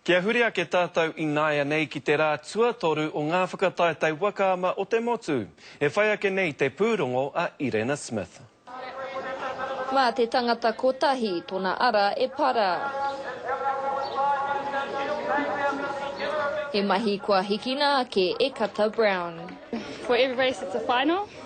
Kia huri ake tātou ināianei ki te rā tuatoru o ngā whakataetae waka ama o te motu, e whai ake nei te pūrongo a Irena Smith. Mā te tangata kotahi tona ara e para. He mahi kua hikina ake e Kata Brown. For every race it's a final.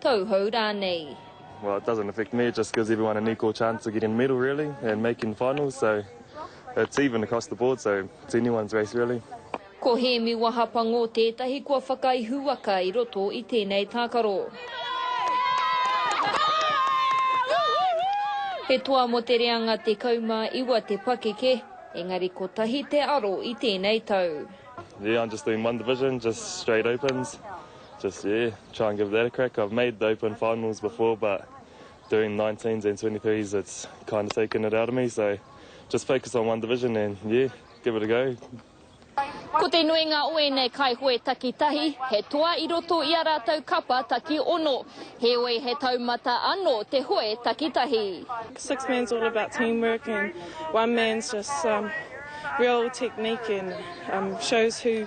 Tauhou rānei. Well it doesn't affect me, it just gives everyone an equal chance of getting a medal really and making the finals so it's even across the board so it's anyone's race really. Ko Hēmi Wahapango tētahi kua whakaihuwaka i roto i tēnei tākaro. He toa mō te reanga 19 te pakeke, engari kotahi te aro i tēnei tau. Yeah, I'm just doing one division, just straight opens. Just yeah, try and give that a crack. I've made the open finals before, but doing 19s and 23s, it's kind of taken it out of me. So just focus on one division and yeah, give it a go. Ko te nuinga o ēnei kaihoe takitahi, he toa i roto i a rātou kapa taki ono. Heoi he taumata anō te hoe takitahi. Six man's all about teamwork and one man's just um, real technique and um, shows who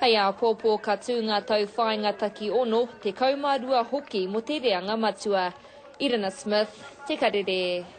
Hei āpōpō ka tū ngā tauwhāinga taki ono, tekau mā rua hoki mō te reanga matua. Irina Smith, Te Karere.